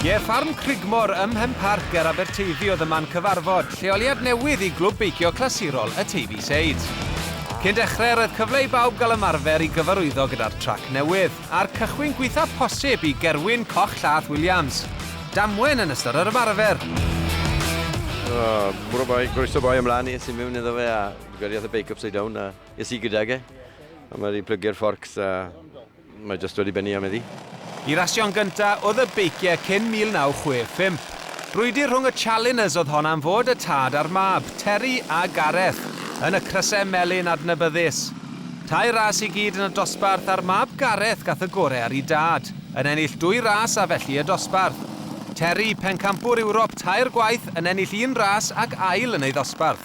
Ie, ffarm Crigmore ym Mhenparc ger Aberteifi oedd y man cyfarfod, lleoliad newydd i glwb beicio clasurol y Teifi Seid. Cyn dechrau, roedd cyfle i bawb gael ymarfer i gyfarwyddo gyda'r trac newydd, a'r cychwyn gwaethaf posib i Gerwyn Coch Llath Williams. Damwen yn ystod yr ymarfer! Bore bai, groeso boi ymlaen i es i mewn iddo fe a gyriodd y beic upside down a Es i gydag e, a mae wedi plygio'r fforcs a mae jyst wedi bennu am iddi. Y rasio'n gynta oedd y beiciau cyn 1965. Brwydr rhwng y Challengers oedd hon am fod y tad a'r mab, Terry a Gareth, yn y crysau melyn adnabyddus. Tair ras i gyd yn y dosbarth a'r mab Gareth gath y gorau ar ei dad, yn ennill dwy ras a felly y dosbarth. Terry, pencampwr Ewrop tair gwaith, yn ennill un ras ac ail yn ei ddosbarth.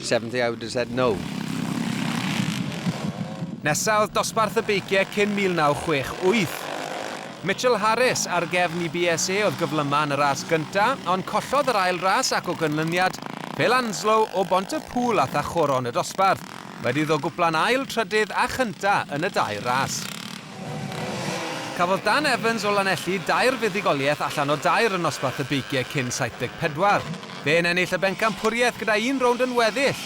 Seventh I would have said no. Nesa oedd dosbarth y beiciau cyn 1968. Mitchell Harris ar gefn i BSA oedd gyflyma yn y ras gynta, ond collodd yr ail ras ac o gynlyniad, Phil Anslow o Bont y Pŵl âth â choron y dosbarth, wedi iddo gwpla'n ail, trydydd a chynta yn y dau ras. Cafodd Dan Evans o Lanelli dair fuddugoliaeth allan o dair yn nosbarth y beicie cyn 74. Fe'n ennill y bencampwriaeth gyda un rownd yn weddill.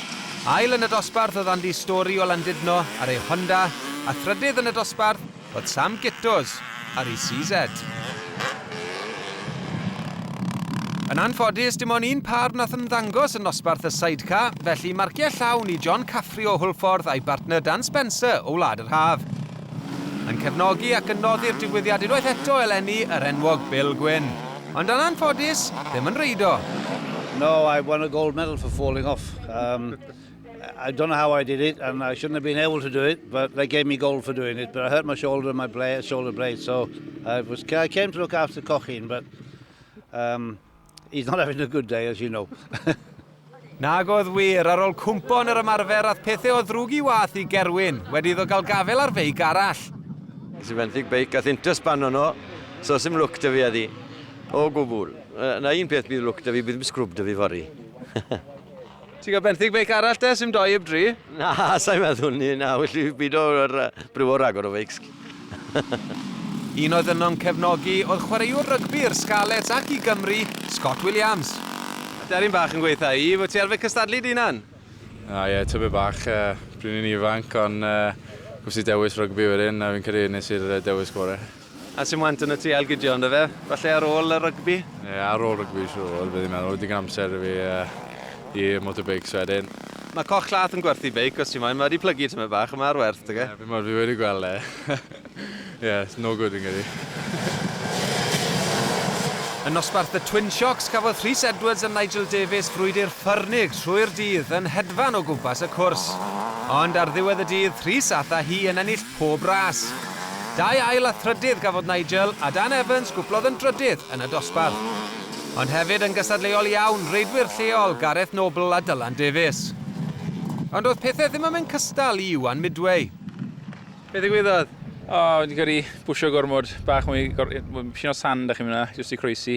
Ail yn y dosbarth oedd Andy Storey o Landudno ar ei Honda, a thrydydd yn y dosbarth oedd Sam Gittos ar ei CZ. Yn anffodus, dim ond un pâr wnaeth ymddangos yn nosbarth y Sidecar, felly marciau llawn i John Caffrey o Hwlffordd a'i bartner Dan Spencer o Wlad yr Haf. Yn cefnogi ac yn noddi'r digwyddiad unwaith eto eleni yr enwog Bill Gwyn. Ond yn anffodus, ddim yn reido. No, I won a gold medal for falling off. Um, I don't know how I did it, and I shouldn't have been able to do it, but they gave me gold for doing it. But I hurt my shoulder and my blade, shoulder blade, so I was I came to look after Cochin, but um, he's not having a good day, as you know. Nag oedd wir, ar ôl cwmpo yn yr ymarfer ath pethau o ddrwg i wath i Gerwyn, wedi iddo gael gafel ar feic arall. Nes i fenthyg beic, gath intas pan o'n o, so sy'n lwc dy fi a di. O gwbl. Na un peth bydd lwc dy fi, bydd yn sgrwb dy fi fori. Ti'n cael benthyg feic arall te, sy'n doi heb dri? Na, sa'i meddwl ni, na, well i fi byd o'r bryw o ragor o feics. Un oedd yno'n cefnogi oedd chwaraewr rygbi i'r Scarlets ac i Gymru, Scott Williams. Aderyn bach yn gweitha i, fod ti arfer cystadlu dy hunan? O ie, tybed bach, pryd o'n i'n ifanc, ond wnes i dewis rygbi wedyn a fi'n credu nes i'r dewis gorau. A sy'n want yn y tŷ Ail Gideon dy fe? Falle ar ôl y rygbi? Ie, ar ôl rygbi siwr bydd i'n meddwl, digon amser da fi i motorbikes wedyn. Mae Coch Llath yn gwerthu beic os ti moyn, mae wedi plygu tymed bach ond mae ar werth da fe. Ie, fi'mod, fi wedi gweld e. Ie, it's no good fi'n credu. Yn nosbarth The Twin Shocks cafodd Rhys Edwards a Nigel Davies frwydr ffyrnig trwy'r dydd yn hedfan o gwmpas y cwrs. Ond ar ddiwedd y dydd, Rhys a'th a hi yn ennill Pob ras. Dau ail a thrydydd gafodd Nigel, a Dan Evans gwplodd yn drydydd yn y dosbarth. Ond hefyd yn gystadleuol iawn, reidwyr lleol, Gareth Noble a Dylan Davies. Ond doedd pethau ddim yn mynd cystal i Iwan Midway. Be ddigwyddodd? O, wedi cael ei bwsio gormod, bach mwy, dipyn o sand a chi mynd yna, jyst i croesi.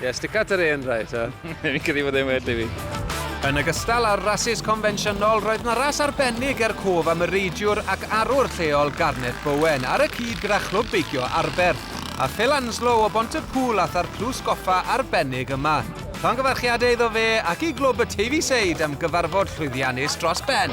Ie, yeah, stick out yr hen rai, ta. Fi'n credu bod e'n well i fi. Yn ogystal â'r rasus confensiynol, roedd na ras arbennig er cof am y reidiwr ac arwr lleol Garnet Bowen ar y cyd gyda chlwb beicio Arberth, a Phil Anslow o Bont y Pŵl a tha'r clws goffa arbennig yma. Llongyfarchiadau iddo fe ac i glwb y Teifi Seid am gyfarfod llwyddiannus dros ben.